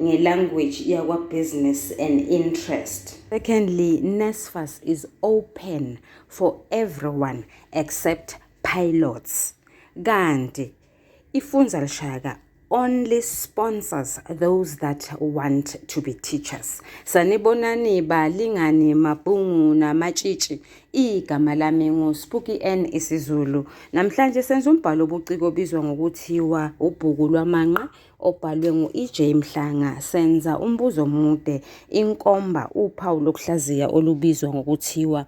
ngelanguage yakwa business and interest secondly NSFAS is open for everyone except pilots kanti ifunza lishaka only sponsors those that want to be teachers sanibonani balingani mabhungu namatshitshi igama lami nguSpuki N isiZulu namhlanje senza umbhalo obuciko obizwa ngokuthiwa ubhuku lwamanqe obhalwe ngu-EJ Mhlanga, senza umbuzo omude, inkomba, uphawu lokuhlaziya olubizwa ngokuthiwa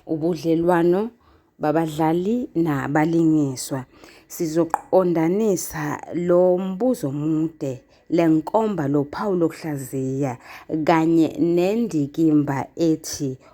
ubudlelwano babadlali nabalingiswa. Sizoqondanisa lo mbuzo omude, le nkomba, lo phawu lokuhlaziya kanye nendikimba ethi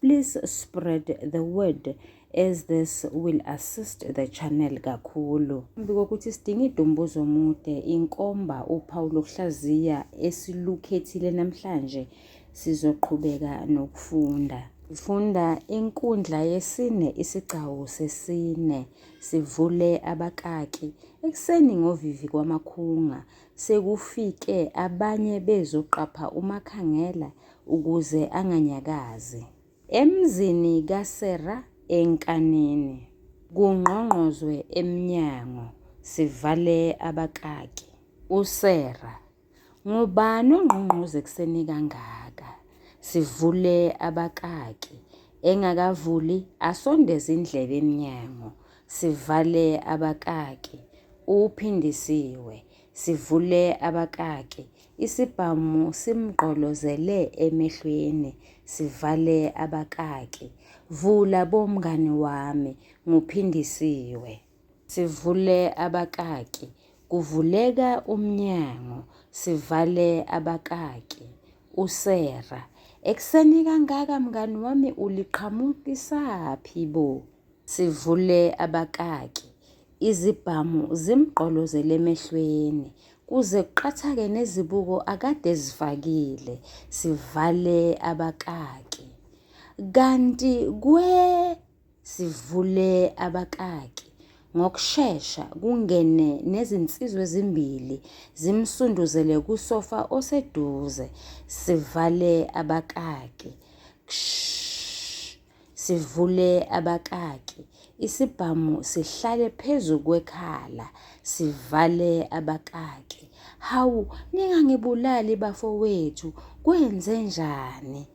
Please spread the word as this will assist the channel kakhulu. Phambi kokuthi sidinge idumbuzo mude inkomba uphawu lokuhlaziya esilukhethile namhlanje sizoqhubeka nokufunda. Funda inkundla yesine isigcawu sesine sivule abakaki ekuseni ngovivi kwamakhunga sekufike abanye bezoqapha umakhangela ukuze anganyakazi. Emzini kaSera eNkanini. Kungqongqozwe emnyango, sivale abakaki. USera, Ngubani ongqongqoza ekuseni kangaka? Sivule abakaki. Engakavuli, asondeze indlebe emnyango, sivale abakaki. Uphindisiwe, sivule abakaki. Isibhamu simgqolozele emehlweni sivale abakaki. Vula bo mngani wami, nguPhindisiwe. Sivule abakaki. Kuvuleka umnyango. Sivale abakaki. USera. Ekuseni kangaka mngani wami uliqhamukisaphi bo? Sivule abakaki. Izibhamu zimgqolozele emehlweni kuze kuqathake nezibuko akade ezifakile. Sivale abakaki. Kanti kwe sivule abakaki. Ngokushesha kungene nezinsizwa ezimbili zimsunduzele kusofa oseduze. Sivale abakaki. Kshh. sivule abakaki, isibhamu sihlale phezu kwekhala, sivale abakaki. Hawu, ningangibulali bafowethu, kwenze njani?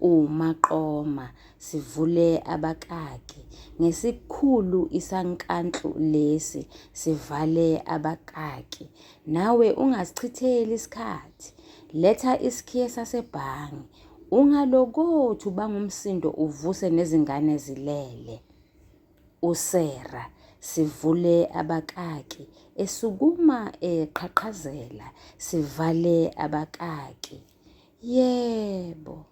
umaqoma sivule abakaki ngesikhulu isankantlu lesi sivale abakaki nawe ungasichitheli isikhathi letha isikhiye sasebhangi Ungalokothi ubanga umsindo uvuse nezingane zilele. USera sivule abakaki esukuma eqhaqhazela sivale abakaki. Yebo.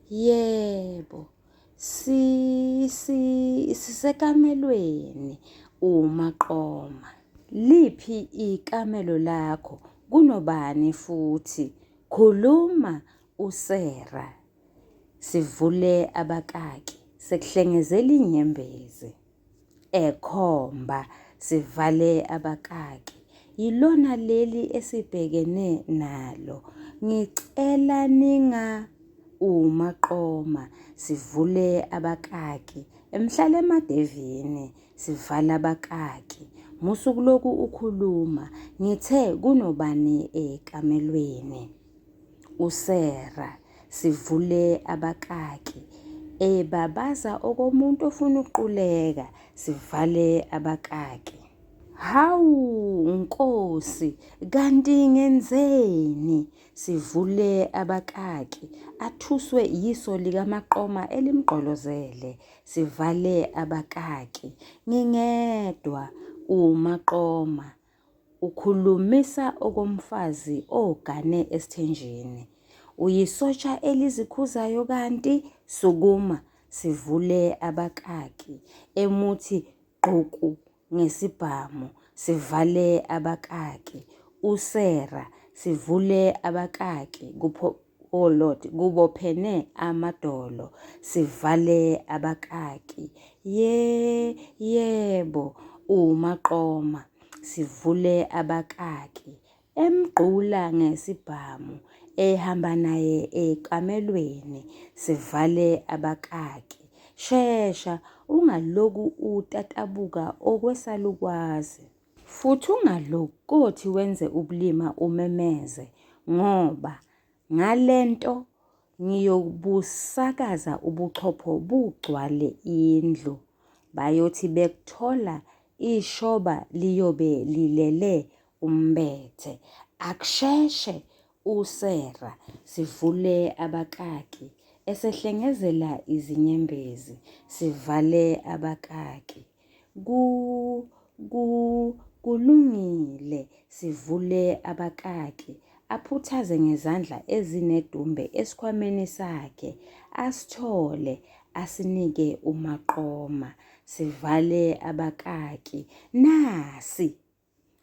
Yebo. Si si sisekamelweni umaqoma. Liphi ikamelo lakho? Kunobani futhi? Khuluma uSera sivule abakaki sekuhlengezela inyembezi ekhomba sivale abakaki yilona leli esibhekene nalo ngicela ninga umaqoma sivule abakaki emhlala emadevini sivala abakaki musuku lokhu ukhuluma ngithe kunobani ekamelweni USera sivule abakaki ebabaza okomuntu ofuna ukuquleka sivale abakaki. Hawu Nkosi kanti ngenzeni? Sivule abakaki athuswe yiso likamaqoma elimgqolozele sivale abakaki. Ngingedwa umaqoma Ukhulumisa okomfazi ogane esithenjini. Uyisotsha elizikhuzayo kanti sukuma sivule abakaki emuthi gquku ngesibhamu sivale abakaki usera sivule abakaki kupho O oh Lord, kubophene amadolo, sivale abakaki. Ye, yebo, umaqoma, sivule abakaki. Emgqula ngesibhamu, ehamba naye ekamelweni, sivale abakaki. Shesha, ungaloku utatabuka okwesalukwazi. Futhi ungalokothi wenze ubulima umemeze, ngoba ngale nto ngiyobusakaza ubuchopho bugcwale indlu. Bayothi bekuthola ishoba liyobe lilele umbethe. Akusheshe uSera sivule abakaki esehlengezela izinyembezi, sivale abakaki. Ku, ku, kulungile, sivule abakaki. Aphuthaze ngezandla ezinedumbe esikhwameni sakhe, asithole, asinike umaqoma. Sivale abakaki. Nasi!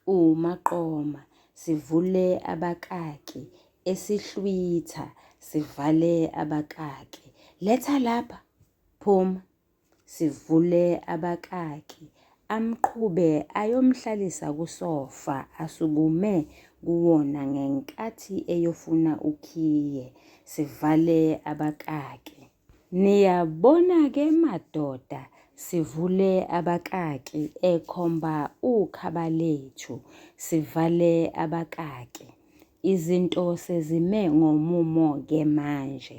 uMaqoma, sivule abakaki, esihlwitha, sivale abakaki, letha lapha, phuma, sivule abakaki, amqhube ayomhlalisa kusofa asukume kuwona ngenkathi eyofuna ukhiye, sivale abakaki. Niyabona-ke madoda, sivule abakaki, ekhomba uKhabalethu. Sivale abakaki. Izinto sezime ngomumo-ke manje.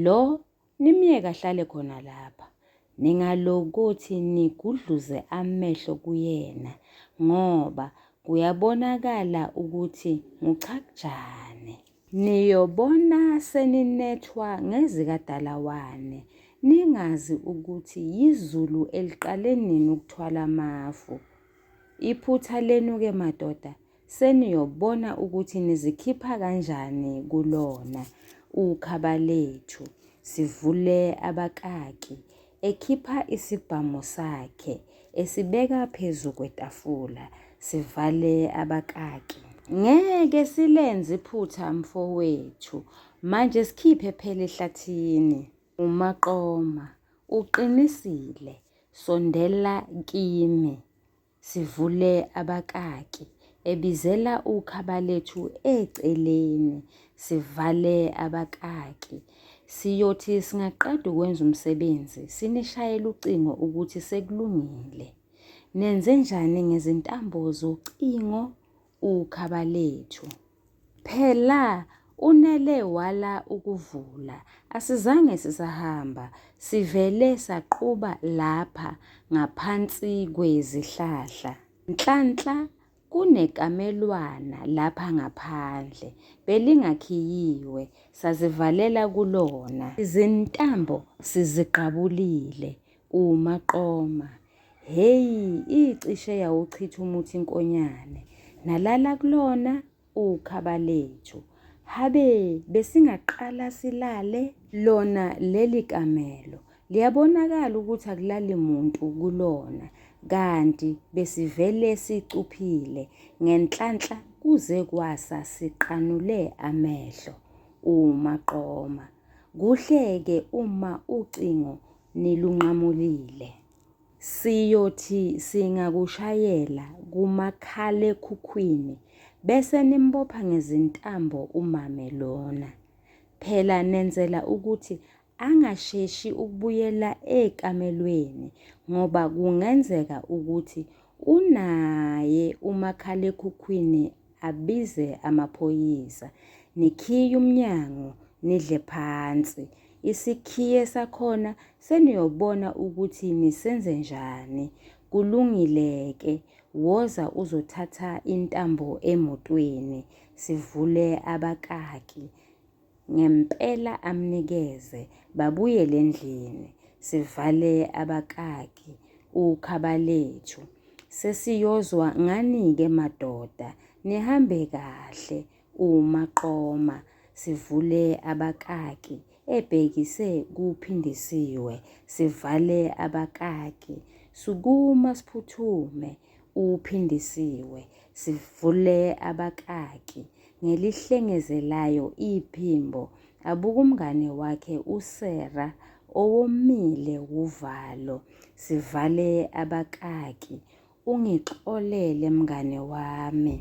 Lo nimyeke ahlale khona lapha. Ningalokuthi nigudluze amehlo kuyena ngoba kuyabonakala ukuthi nguchakujane. Niyobona seninethwa ngezikadalawane, ningazi ukuthi yizulu eliqale nini ukuthwala amafu. Iphutha lenu-ke madoda, seniyobona ukuthi nizikhipha kanjani kulona ukhaba lethu, sivule abakaki. ekhipha isibhamu sakhe esibeka phezu kwetafula sivale abakaki ngeke silenze iphutha mfowethu manje sikhiphe phela ehlathini umaqoma uqinisile sondela kimi Sivule abakaki. Ebizela uKhabalethu eceleni. Sivale abakaki. Siyothi singaqeda ukwenza umsebenzi, sinishayele ucingo ukuthi sekulungile. Nenze njani ngezintambo zocingo uKhabalethu. Phela unele wala ukuvula, asizange sisahamba, sivele saquba lapha ngaphansi kwezihlahla. Nhlanhla kunekamelwana lapha ngaphandle, belingakhiyiwe, sazivalela kulona. Izintambo siziqabulile, UMaqoma, Hheyi, icishe yawuchitha umuthi inkonyane. Nalala kulona uKhabalethu. Habe, besingaqala silale? Lona leli kamelo liyabonakala ukuthi akulali muntu kulona kanti besivele sicuphile ngenhlanhla kuze kwasa siqanule amehlo umaqoma kuhleke uma ucingo nilunqamulile. Siyothi singakushayela kumakhalekhukhwini bese nimbopha ngezintambo umame lona. Phela nenzela ukuthi angasheshi ukubuyela ekamelweni ngoba kungenzeka ukuthi unaye umakhalekhukhwini abize amaphoyisa nikhiye umnyango nidle phansi isikhiye sakhona seniyobona ukuthi nisenze njani kulungile-ke woza uzothatha intambo emotweni sivule abakaki Ngempela amnikeze babuyele endlini sivale abakaki ukhabalethu sesiyozwa nganike madoda nihambe kahle umaqoma sivule abakaki ebhekise kuphindisiwe sivale abakaki sukuma siphuthume uphindisiwe sivule abakaki ngelihlengezelayo iphimbo abuka umngane wakhe usera owomile wuvalo sivale abakaki ungixolele mngane wami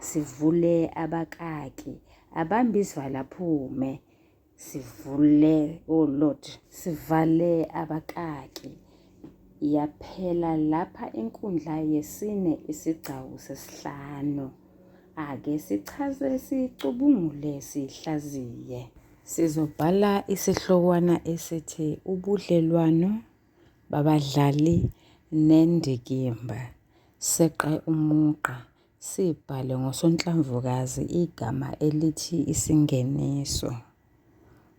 sivule abakaki abambe izwala phume sivule oh lord sivale abakaki yaphela lapha inkundla yesine isigcawu sesihlanu ake sichaze sicubungule sihlaziye sizobhala isihlokwana esithi ubudlelwano babadlali nendikimba seqe umugqa Sibhale ngosonhlamvukazi igama elithi isingeniso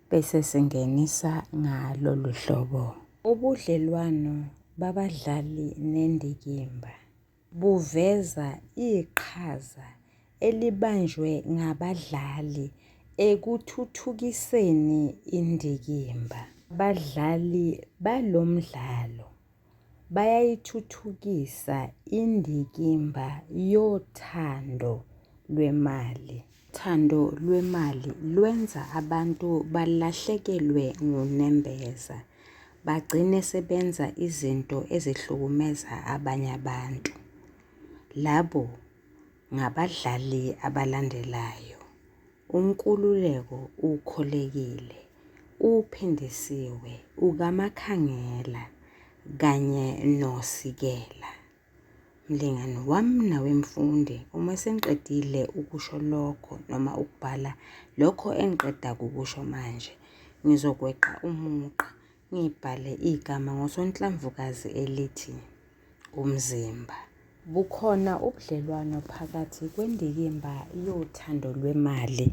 bese singenisa ngalolu hlobo. Ubudlelwano babadlali nendikimba buveza iqhaza elibanjwe ngabadlali ekuthuthukiseni indikimba. Abadlali balo mdlalo bayayithuthukisa indikimba yothando lwemali. Uthando lwemali lwenza abantu balahlekelwe ngunembeza, bagcine sebenza izinto ezihlukumeza abanye abantu. Labo ngabadlali abalandelayo, UNkululeko uKholekile, uPhindisiwe, uKaMakhangela kanye noSikela. Mlingani wami nawe mfundi, uma sengiqedile ukusho lokho noma ukubhala lokho engiqeda kukusho manje, ngizokweqa umugqa Ngibhale igama ngosonhlamvukazi elithi umzimba. Bukhona ubudlelwano phakathi kwendikimba yothando lwemali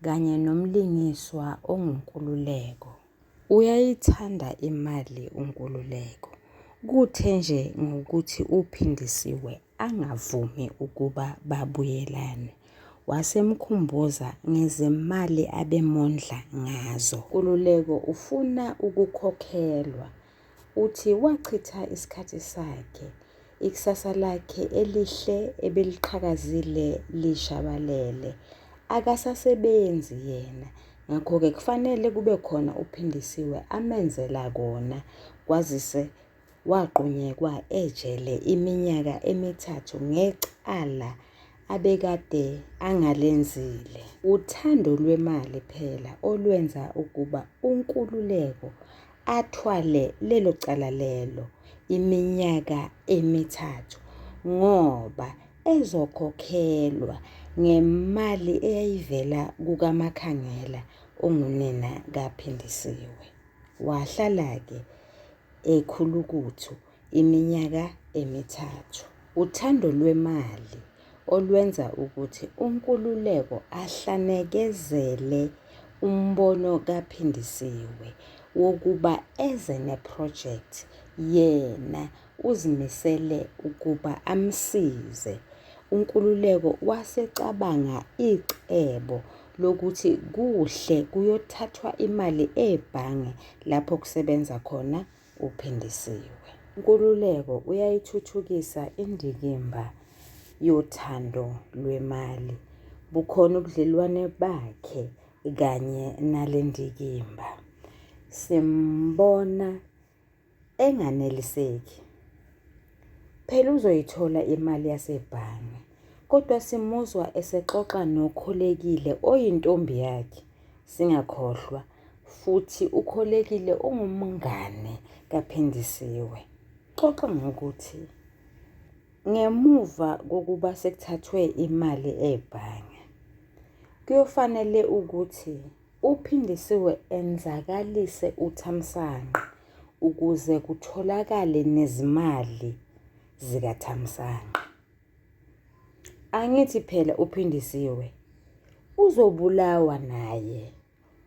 kanye nomlingiswa onguNkululeko. Uyayithanda imali uNkululeko. Kuthe nje ngokuthi uPhindisiwe angavumi ukuba babuyelane wasemkhumbuza ngezimali abemondla ngazo. Kululeko ufuna ukukhokhelwa. Uthi wachitha isikhathi sakhe, ikusasa lakhe elihle ebeliqhakazile lishabalele. Akasasebenzi yena, ngakho-ke kufanele kube khona uPhindisiwe amenzela kona kwazise wagqunyekwa ejele iminyaka emithathu ngecala abekade angalenzile. Uthando lwemali phela olwenza ukuba uNkululeko athwale lelo cala lelo iminyaka emithathu ngoba ezokhokhelwa ngemali eyayivela kukaMakhangela ongunina kaPhindisiwe. Wahlala-ke ekhulukuthu iminyaka emithathu. Uthando lwemali olwenza ukuthi uNkululeko ahlanekezele umbono kaPhindisiwe wokuba eze nephrojekthi yena uzimisele ukuba amsize. UNkululeko wasecabanga icebo lokuthi kuhle kuyothathwa imali ebhange lapho kusebenza khona uPhindisiwe. UNkululeko uyayithuthukisa indikimba yothando lwemali, bukhona ubudlelwane bakhe kanye nale ndikimba. Simbona enganeliseki. Phela uzoyithola imali yasebhange, kodwa simuzwa esexoxa noKholekile oyintombi yakhe singakhohlwa futhi uKholekile ungumngane kaPhindisiwe. Xoxa ngokuthi ngemuva kokuba sekuthathwe imali ebhange kuyofanele ukuthi Uphindisiwe enzakalise uThamsanqa ukuze kutholakale nezimali zikaThamsanqa. Angithi phela uPhindisiwe uzobulawa naye,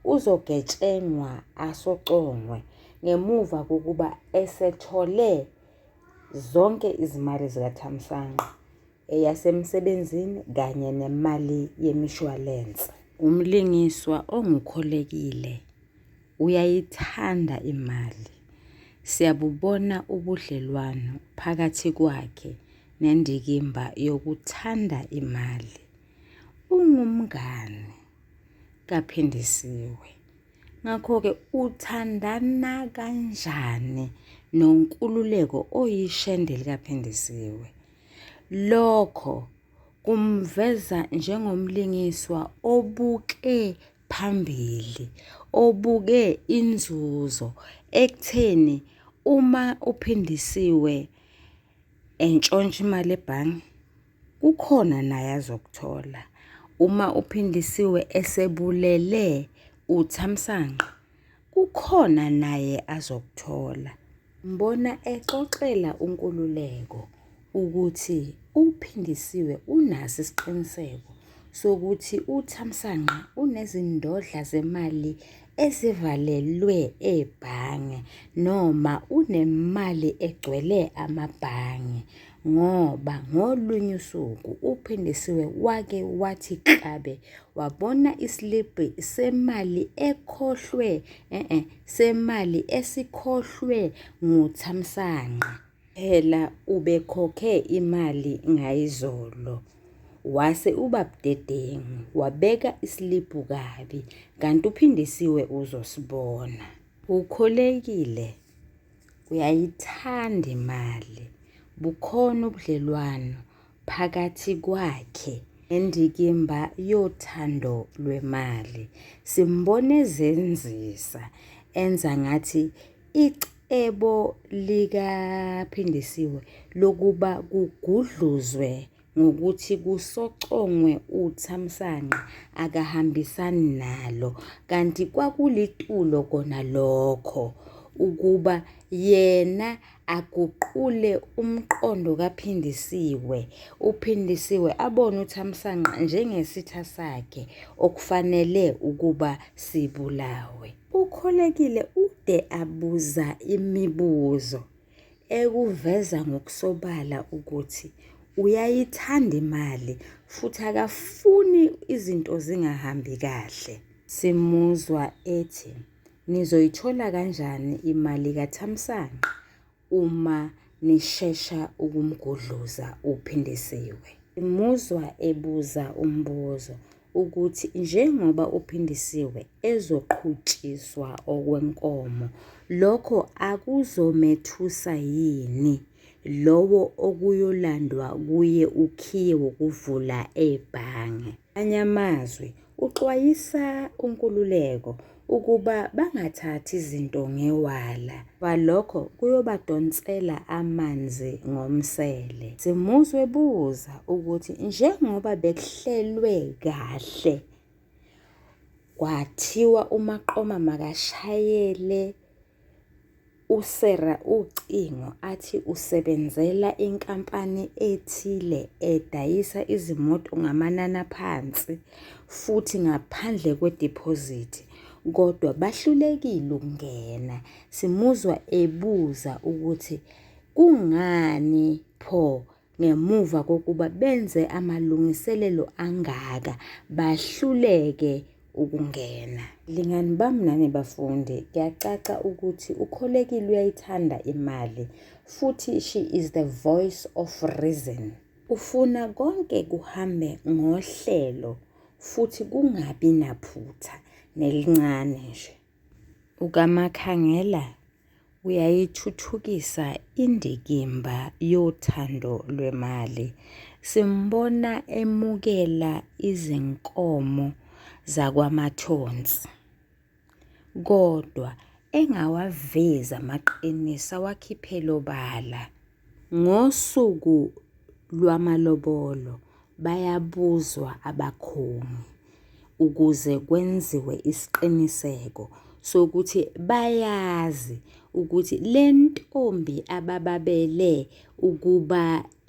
uzogetshengwa asocongwe ngemuva kokuba esethole zonke izimali zikaThamsanqa. eyasemsebenzini kanye nemali yemishwalense. Umlingiswa ongukholekile uyayithanda imali. Siyabubona ubudlelwano phakathi kwakhe nendikimba yokuthanda imali. Ungumngane kaPhindisiwe. Ngakho-ke uthandana kanjani nonkululeko oyishende likaPhindisiwe? Lokho kumveza njengomlingiswa obuke phambili, obuke inzuzo ekutheni uma uphindisiwe entshontsha imali ebhange kukhona naye azokuthola. Uma uphindisiwe esebulele uthamsanqa Kukhona naye azokuthola. Mbona exoxela uNkululeko ukuthi uPhindisiwe unaso isiqiniseko sokuthi uThamsanqa unezindodla zemali ezivalelwe ebhange noma unemali egcwele amabhange. ngoba ngolunye usuku uPhindisiwe wake wathi klabe wabona isilibhi semali ekhohlwe e-e semali esikhohlwe nguThamsanqa. Phela ubekhokhe imali ngayizolo wase uba budedengu wabeka isilibhu kabi kanti uPhindisiwe uzosibona. Ukholekile. Uyayithanda imali. Bukhona ubudlelwano phakathi kwakhe nendikimba yothando lwemali. Simbona ezenzisa enza ngathi icebo likaPhindisiwe lokuba kugudluzwe ngokuthi kusocongwe uthamsanqa akahambisani nalo kanti kwakulitulo kona lokho ukuba yena aguqule umqondo kaPhindisiwe, uPhindisiwe abone uThamsanqa njengesitha sakhe okufanele ukuba sibulawe. UKholekile ude abuza imibuzo. ekuveza ngokusobala ukuthi uyayithanda imali futhi akafuni izinto zingahambi kahle. Simuzwa ethi, Nizoyithola kanjani imali kaThamsanqa uma nishesha ukumgudluza uPhindisiwe? Simuzwa ebuza umbuzo. ukuthi njengoba uPhindisiwe ezoqhutshiswa okwenkomo lokho akuzomethusa yini lowo okuyolandwa kuye ukhiye wokuvula ebhange. Amanye amazwi uxwayisa uNkululeko ukuba bangathathi izinto ngewala ngoba lokho kuyobadonsela amanzi ngomsele. Simuzi webuza ukuthi njengoba bekuhlelwe kahle kwathiwa uMaqoma makashayele USera ucingo athi usebenzela inkampani ethile edayisa izimoto ngamanani aphansi futhi ngaphandle kwediphozithi kodwa bahlulekile ukungena. Simuzwa ebuza ukuthi kungani pho ngemuva kokuba benze amalungiselelo angaka bahluleke ukungena. Lingani bami nani bafundi, kuyacaca ukuthi ukholekile uyayithanda imali futhi she is the voice of reason. Ufuna konke kuhambe ngohlelo futhi kungabi naphutha nelincane nje. UKaMakhangela uyayithuthukisa indikimba yothando lwemali. Simbona emukela izinkomo zakwaMathonsi kodwa engawavezi amaqiniso awakhiphele obala. Ngosuku lwamalobolo bayabuzwa abakhongi ukuze kwenziwe isiqiniseko sokuthi bayazi ukuthi le ntombi abababele ukuba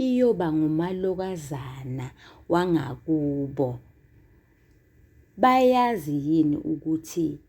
iyoba ngumalokazana wangakubo bayazi yini ukuthi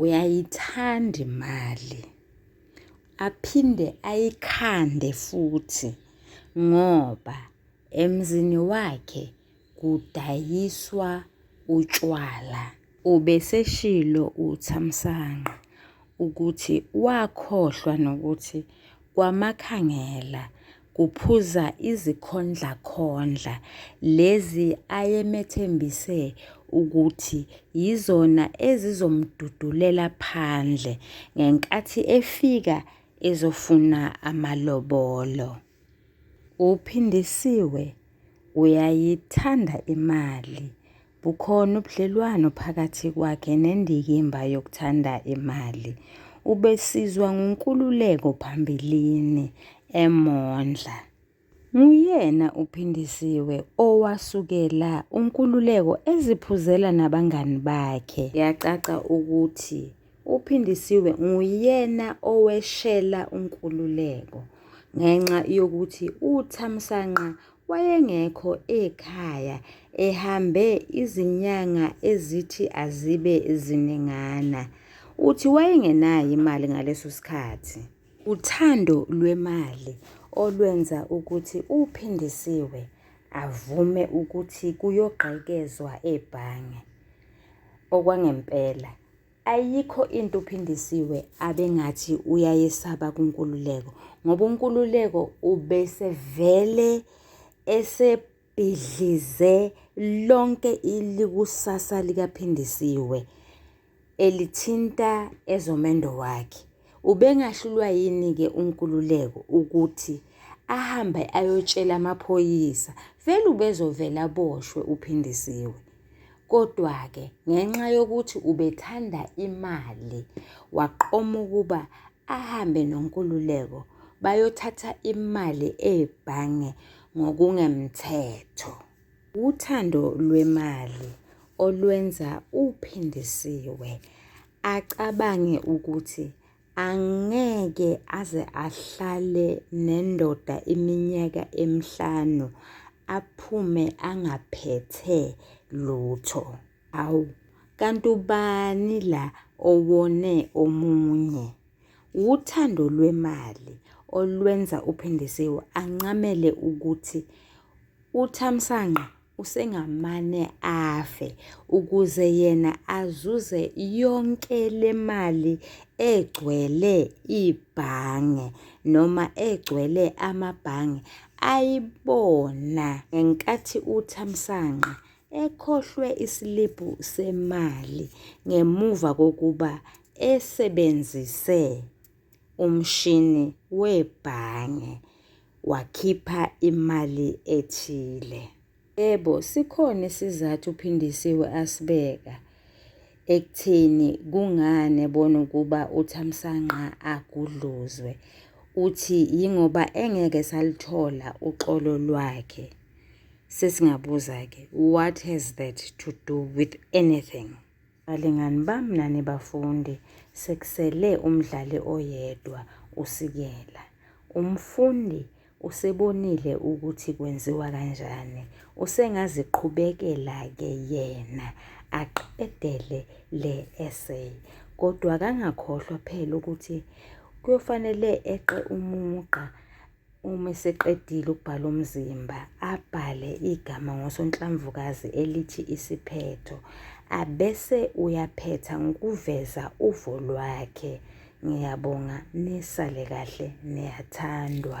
uyayithanda imali aphinde ayikhande futhi ngoba emzini wakhe kudayiswa utshwala. Ubeseshilo uThamsanqa ukuthi wakhohlwa nokuthi kwaMakhangela kuphuza izikhondlakhondla lezi ayemethembise ukuthi yizona ezizomdudulela phandle ngenkathi efika ezofuna amalobolo. UPhindisiwe uyayithanda imali Bukhona ubudlelwano phakathi kwakhe nendikimba yokuthanda imali. Ubesizwa nguNkululeko phambilini emondla. Nguyena uPhindisiwe owasukela uNkululeko eziphuzela nabangani bakhe. Yacaca ukuthi uPhindisiwe nguyena oweshela uNkululeko ngenxa yokuthi uThamsanqa wayengekho ekhaya ehambe izinyanga ezithi azibe ziningana. Uthi wayengenayo imali ngaleso sikhathi. Uthando lwemali olwenza ukuthi uPhindisiwe avume ukuthi kuyogqekezwa ebhange okwangempela. Ayikho into uPhindisiwe abengathi uyayesaba kunkululeko ngoba unkululeko ubesevele esebhidlize lonke ilikusasa likaPhindisiwe elithinta ezomendo wakhe. Ubengahlulwa yini-ke unkululeko ukuthi ahambe ayotshela amaphoyisa? Vele ubezovele aboshwe uPhindisiwe. Kodwa-ke ngenxa yokuthi ubethanda imali, waqoma ukuba ahambe noNkululeko bayothatha imali ebhange ngokungemthetho. Uthando lwemali olwenza uPhindisiwe acabange ukuthi Angeke aze ahlale nendoda iminyaka emihlanu aphume angaphethe lutho. Awu, kanti ubani la owone omunye? Wuthando lwemali olwenza uPhindisiwe anqamele ukuthi uThamsanqa usengamane afe ukuze yena azuze yonke le mali egcwele ibhange noma egcwele amabhange ayibona ngenkathi uThamsanqa ekhohlwe isiliphu semali ngemuva kokuba esebenzise umshini webhange wakhipha imali ethile. Yebo, sikhona isizathu uPhindisiwe asibeka ekutheni kungani ebona ukuba uThamsanqa agudluzwe. Uthi yingoba engeke salithola uxolo lwakhe. Sesingabuza-ke, what has that to do with anything? Balingani bami nani bafundi, sekusele umdlali oyedwa uSikela. Umfundi usebonile ukuthi kwenziwa kanjani. Usengaziqhubekela-ke yena aqedele le essay. Kodwa kangakhohlwa phela ukuthi kuyofanele eqe umugqa Uma eseqedile ukubhala umzimba, abhale igama ngosonhlamvukazi elithi isiphetho, abese uyaphetha ngokuveza uvo lwakhe. Ngiyabonga, nisale kahle, niyathandwa.